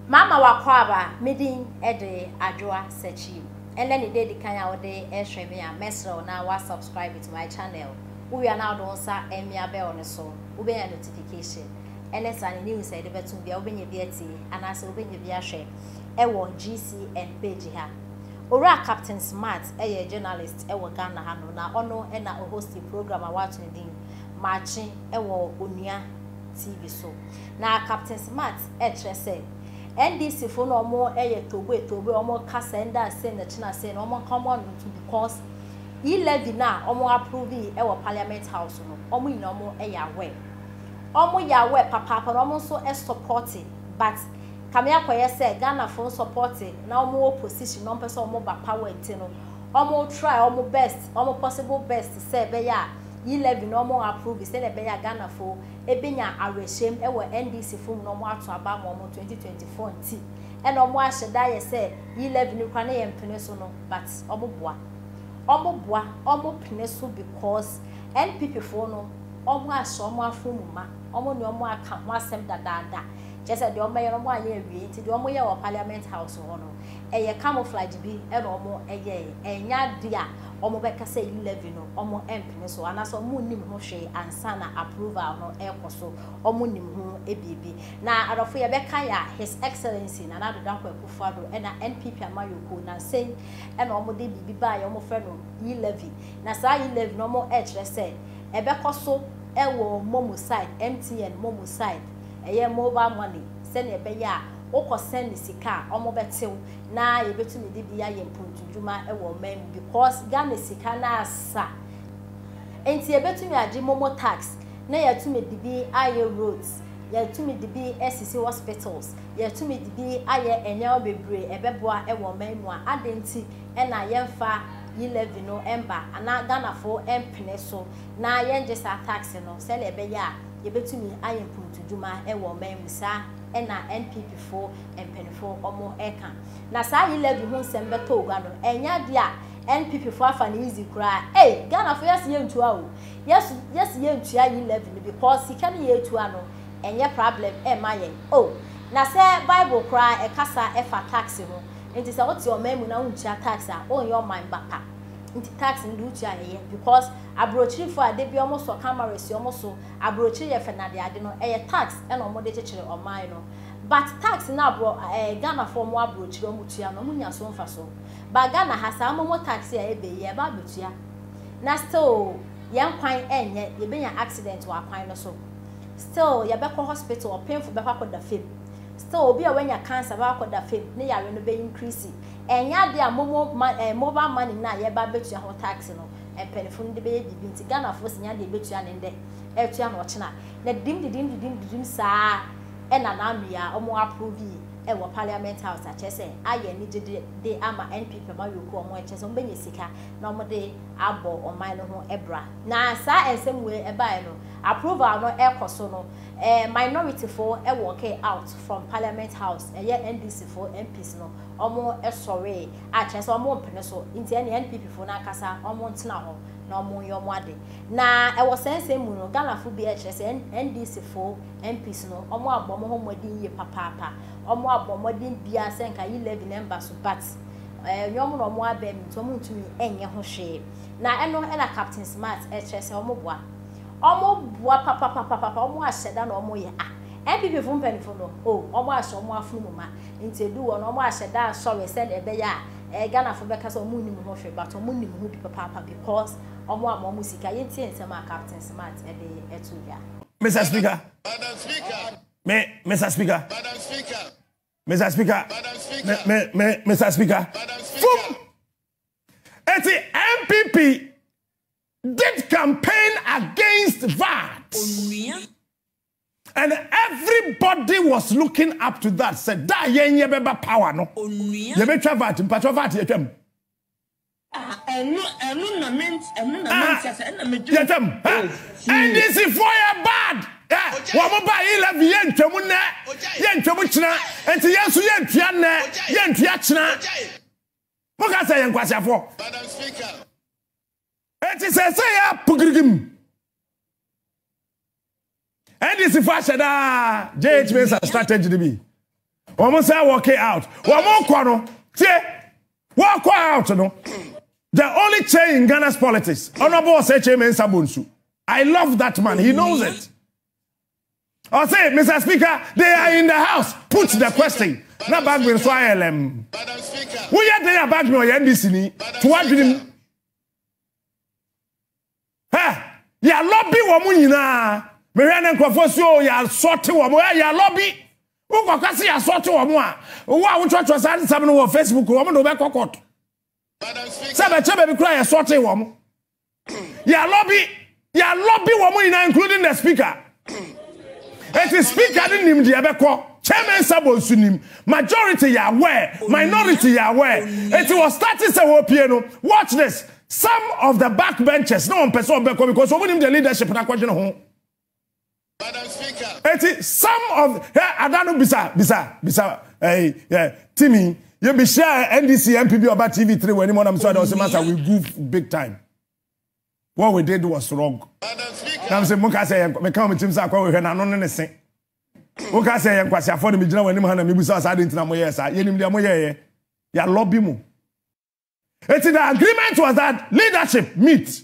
Mama w'akwaaba me din de Adwoa Sachi. Ɛnɛ ne da edi kan a wode rehwɛ me a, mɛsrɛ wo na wa subscribe to my channel. Wowie a na wode wo nsa amia bell no so. Wobenya notification ne saa ne news a yɛde bɛtom biara, wobenya bi atie anaasɛ wobenya bi ahwɛ wɔ GCN page ha. Owura Captain Smart yɛ journalist wɔ Ghana hanom na ɔno na ɔhosti program a wɔato no din Makye wɔ Onua TV so. Na Captain Smart ɛkyerɛ sɛ NDC fo no ɔmo yɛ toboe toboe ɔmo ka sɛ ndɛ asei na kyena asei na ɔmo nka ɔmo ano ntom because E levy no a ɔmo approve yi wɔ parliament house no ɔmo nyina ɔmo yɛ aware ɔmo yɛ aware papaapa na ɔmo nso supporte but kame akɔyɛ sɛ Ghana fo supporte na ɔmo wɔ position na ɔmo pɛ sɛ ɔmo ba power nti no ɔmo try ɔmo best ɔmo possible best sɛ ɛbɛyɛ a E levy no ɔmo approve sɛnea ɛbɛyɛ a Ghana fo benya awerɛhyɛm wɔ NDC fo mu na ɔmo ato aba ama ɔmo twenty twenty four nti ɛna ɔmo ahyɛ da ayɛ sɛ yi levy no koraa na yɛn pene so no but ɔmo boa ɔmo boa ɔmo pene so because NPP foɔ no ɔmo ahyɛ ɔmo afon mu ma ɔmo ne ɔmo aka ho asɛm dadaada kyerɛ sɛ deɛ ɔmo bɛyɛ no ɔmo anyɛ awie nti deɛ ɔmo yɛɛ wɔ parliament house hɔ no ɛyɛ camouflage bi ɛna ɔmo yɛɛ ɛnyɛ adeɛ a wɔbɛka sɛ yi levy no wɔmpene so anaasɛ wɔnnim ho hwee ansa na approval no rekɔ so, wɔnnim ho biribi. Na adɔfo yɛbɛka yɛ a, His Excellency Nana Addo Dankwa Akufo-Addo na NPP amanyɔkuo nnansa yi na wɔde biribi baeɛ a wɔfrɛ no yi levy. Na saa yi levy no wɔrekyerɛ sɛ ɛbɛkɔ so wɔ momo side, MTN momo side, ɛyɛ mobile money, sɛdeɛ ɛbɛyɛ a wokɔ send sika a wɔbɛte wo na yɛbɛtumi de bi ayɛ mpontudwuma wɔ ɔman mu because Ghana sika no asa nti yɛbɛtumi agye momo tax na yɛatumi de bi ayɛ roads, yɛatumi de bi asisi hospitals, yɛatumi de bi ayɛ nneɛma bebree ɛbɛboa wɔ ɔman mu a adɛn nti na yɛmfa yi levy no mma anaa Ghanafoɔ mpene so na yɛngye saa tax no sɛdeɛ ɛbɛyɛ a yɛbɛtumi ayɛ mpontudwuma wɔ ɔman mu saa na NPP foɔ mpanyimfo reka. Na saa Ayi Levy ho nsɛm bɛtɔɔ gua no, ɛnyɛ ade a NPP fo afa no easy koraa. Ei! Ghanafo yɛse yɛntua o, yɛse yɛntua Ayi Levy no because sika no yɛtua no ɛnyɛ prablɛm mma yɛn o. Na sɛ Bible koraa ɛkasa ɛfa tax ho, nti sɛ wote ɔman mu na wontua tax a, wonyɛ ɔman ba pa. Nti tax no de wotua a ɛyɛ because abrokyirifo a da biara wɔsɔ cameras wɔn so, abrokyire yɛ fɛ no adeade no, ɛyɛ tax na wɔde kyekyere ɔman no. But tax no a brɔ eh Ghanafoɔ ɔmo abrokyire ɔmo tua no ɔmo nya so mfaso but Ghana ha saa momo tax a ɛbɛ yi ɛba abɛtua na still yɛn kwan ɛnyɛ yɛbɛnya accident wɔ akwan no so still yɛbɛkɔ hospital ɔpenfo bɛkɔ akɔda fam still obi a wanya cancer bɛkɔ akɔda fam ne yare no bɛ increase ɛnyɛ adeɛ a momo ma eh mobile money no a yɛba abɛtua ho tax no mpanyinfo no de bɛyɛ biribi nti Ghanafoɔ sɛ nya deɛ ɛbɛtua ne ndɛ ɛtua na ɔkyena Na dim dedim dedim dedim saa na na wia a wɔn approve yi ɛwɔ parliament house a kyerɛ sɛ ayɛ anigye de de ama NPP ma wia kuo wɔn kyerɛ sɛ wɔn bɛnya sika na wɔn de abɔ ɔman no ho bra na saa ɛnsɛm wei ɛbaɛ no approval no ɛkɔ so no ɛɛ minority foɔ ɛwɔke out from parliament house ɛyɛ NDC foɔ MPs no wɔn sɔree a kyerɛ sɛ wɔn mpene so nti ɛneɛ NPP foɔ no ankasa wɔn ntena hɔ na wɔn nyɛ wɔn ade. Na wɔ saa nsɛm mu no, Ghanafo bi kyerɛ sɛ NDC fo MPs no wɔabɔ wɔn ho mmɔden yie papaapa. Wɔabɔ mmɔden biara sɛ nka yi levy no ɛmba so but ɛnyɛ wɔn na wɔabɛm nti wɔntumi nyɛ ho hwee. Na ɛno na Captain Smart kyerɛ sɛ wɔboa. Wɔboa papapapapa, wɔahyɛ da na wɔyɛ. Ah, NPP fo mpanyimfo no oh, wɔahyɛ wɔn afono mu ma. Nti ɛduu hɔ no wɔahyɛ da asɔre sɛdeɛ ɛbɛyɛ a Ghanafo bɛka sɛ wɔnnim ho hwee but wɔnim ho bi papaapa because, Ɔmo ama ɔmo sika. Yɛntie nsɛm a Captain Smart de to dwa. Mister Speaker, me, Mister Speaker, Mister Speaker, me, me, me, Mister Speaker, fum. Eti NPP did campaign against VAT. Onua And everybody was looking up to that sɛ da a yɛn yɛbɛba power no Onua. yɛbɛtwa vat mpakyɛw vat yɛtwam Ah, ɛno, ɛno na me, ɛno na me Ah, nsa sɛ, ɛna me dwen. yɛtwam ha Oh, fii. ndc foɔ yɛ bad ɛ wɔn ba eleven yɛntwam nnɛ yɛntwam kyena nti yɛn nso yɛntua nnɛ yɛntua kyena moka sɛ yɛ nkwaseafoɔ Madam Speaker. Enti sɛ ɛsɛ yɛ a pukirigim. NDC fo ahyɛ daa JH Mensah strategy no bi. Wɔn sɛ wɔke out. Wɔn kɔ no tie wɔkɔ out no. The only change in Ghana's politics. Honorable Osei Kyei Mensah Bonsu. I love that man. He knows it. Ɔse Mister Speaker they are in the house put the question na Bagbin nso ayɛ lɛm. Woyɛ dɛn a Bagbin ɔyɛ NDC ni to w'adwenem. Hɛ yalɔbi wɔn nyinaa mehwɛ ne nkurɔfoɔ si o yasɔte wɔn hɛ yalɔbi wokɔka se yasɔte wɔn a wo a wotwerɛtwerɛ saa nsɛm no wɔ Facebook wɔn de wobɛkɔ kɔt sɛ bɛkyɛ baabi koraa yɛsɔte wɔn. yɛalɔbi yɛalɔbi wɔn nyinaa including the speaker ɛti speaker ne nim deɛ ɛbɛkɔ chairman sabo nso nim majority yɛ aware minority yɛ aware ɛti wɔ start sɛ wɔpie no watch this some of the back benches na wɔn pɛ sɛ wɔn bɛkɔ because wɔn nim the leadership na akɔdwene ho. Eti some of hɛ ada no bisa bisa bisa ɛyi ɛ timi yɛ bi hyɛ NDC MP bi ɔba TV three wɔ anim ɔnam so ada ɔsɛ masa we goof big time what we did was wrong nam sɛ mo ka sɛ yɛn meka wɔn tim sɛ akɔ wɔ hwɛ n'ano ne ne se wo ka sɛ yɛn nkwasi afɔ ne mi gyina wɔn anim ha na mi bu sɛ ɔsɛ adi ntina mo yɛ saa yɛ nim deɛ mo yɛ yɛ yɛ alɔ bi mo eti the agreement was that leadership meet.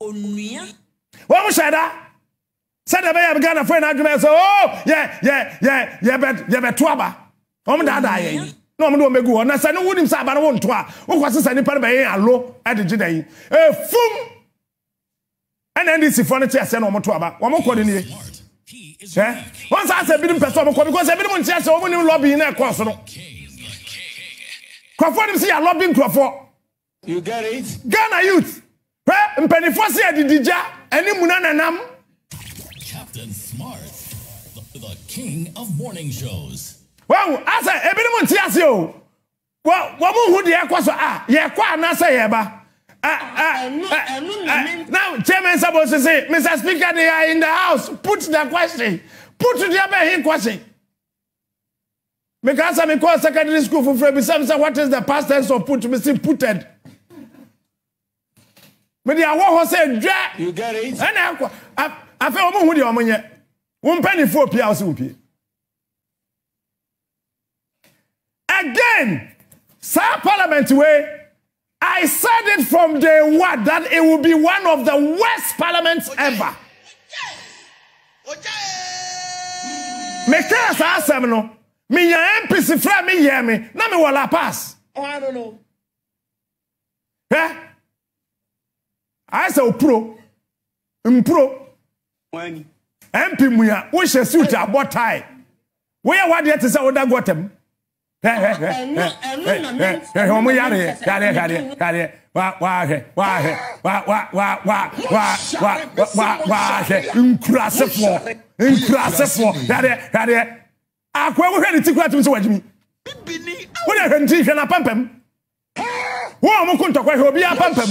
onua. Wɔn hyɛ da sɛ deɛ bɛyɛ Ghana fo yɛn adwuma yɛ sɛ oo oh, yɛ yɛ yɛ yɛbɛ yɛbɛto aba wɔn daadaa yɛn yi na wɔn de wɔn bɛgu hɔ na sɛ ne wunim sɛ aba no wɔn nto a wokɔ sesa nipa no bɛyɛ alo ɛde gye da yi efum ɛna ndc fo no te aseɛ na wɔn to aba wɔn kɔ ne nie ɛ wɔn saa sɛ ebinom pɛ sɛ wɔn kɔ because ebinom nte aseɛ wɔn nim lɔbi na ɛkɔɔ so no nkurɔfoɔ nim sɛ yɛ lɔbi nkurɔfoɔ. You get it? Ghana youth, hwɛ mpanimfoɔ se adidi gya ɛne muna na nam. Captain Smart, the king of morning shows. Wahu asɛ ebinom nte ase o. Wɔ wɔn hu deɛ ɛkɔ so a yɛkɔ anaasɛ yɛba. Now Chairman Sabo sisi Mr Speaker they are in the house put the question put deɛ bɛn he question. Mekaa sɛ mekɔɔ secondary school foforɔ bisa me sɛ what is the past tense of put me se puted mede awɔ hɔ sɛ dwa ɛna akɔ afei wɔn hu deɛ wɔn nyɛ wɔn mpanimfoɔ pie a wɔsi wɔn pie again saa parliament wei. I said it from day one that it will be one of the worst parliaments ever. Me kaa saa asɛm no, me nya MPs frɛ me yɛ me, na me wɔ La Paz. Hwɛ, ayɛ sɛ opuro, mpuro. MP mua, wohyɛ suit abɔ tie. Woyɛ wadeɛ te sɛ woda gɔtam. nkurasefoɔ nkurasefoɔ hwɛdeɛ hwɛdeɛ akoa wohwɛ ne ti kura tumi sɛ wagyimi wode hwɛ ne ti hwɛ no apampam wo a ɔmo ko ntɔkwa hwɛ obi apampam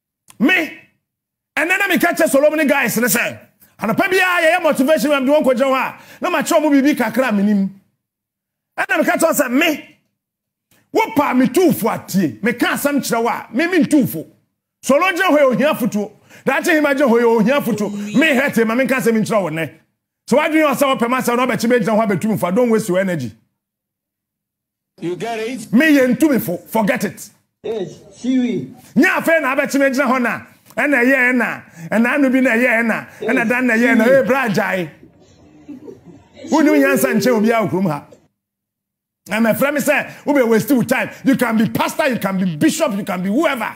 Me, ɛnɛ na meka kyɛ Solom ne guys no sɛ, anɔpa biara yɛyɛ motivation ma mede wɔn kɔgyina hɔ a, na makyerɛ wɔn biribi kakra a menim. Ɛna meka kyerɛ sɛ, me, wopaa me tuufo atie, meka asɛm kyerɛ wo a, me mentu fo. Solo gyina hɔ yɛ ohia afotuo. Daakye hema gyina hɔ yɛ ohia afotuo. Me hɛ te ma menka asɛm nkyerɛ wo nnɛ. Sɛ w'adwene yɛ ɔsɛ wɔpɛ m'asɛm na wɔbɛkye bɛgyina hɔ abɛtu me fo a, don't waste your energy. You get it? Me yɛ ntumifo, forget it. It, siwi. Nyɛ afei na abɛkye me gyina hɔ na. Ɛna ɛyɛ ɛna, ɛna ano bi na ɛyɛ ɛna, ɛna dan na ɛyɛ ɛna, ee bra agyae. Wonni nyansa nkyɛn obiara wɔ kurom ha. Ɛmɛfrɛ me sɛ wobɛ waste wo time. You can be pastor, you can be bishop, you can be whoever.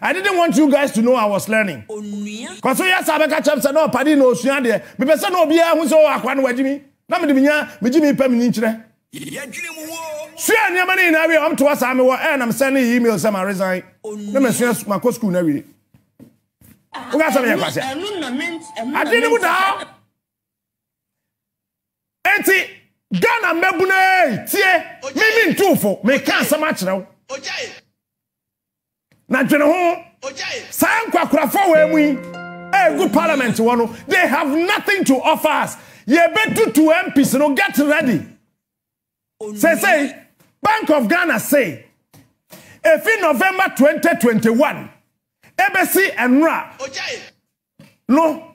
I didn't want you guys to know I was learning. Onua. Kɔ so yɛ saa bɛka kyerɛ me sɛ na ɔpadi na ɔsua adeɛ. Mepɛ sɛ na obiara hu sɛ oh akoa no wagye mi na mede me nya me gye me pɛ me nyinkyerɛ. Yɛdwene mu woo. Suaa nneɛma no nyinaa wiei, wɔtoa saa me wɔ air na me sɛndee email sɛ ma resign na masua makɔ school no awie. Woka sɛ meyɛ kwasea. Ade no mu daa. Enti Ghana mmabunu ee tie me mentuufo meka asɛm akyerɛ wo. Na dwene ho, saa nkwakorafo wɔ mu yi a egu parliament hɔ no, they have nothing to offer us. Yɛbɛtutu MPs no, get ready. Sɛsɛi, Bank of Ghana se, efi November 2021 ebesi ɛnora no,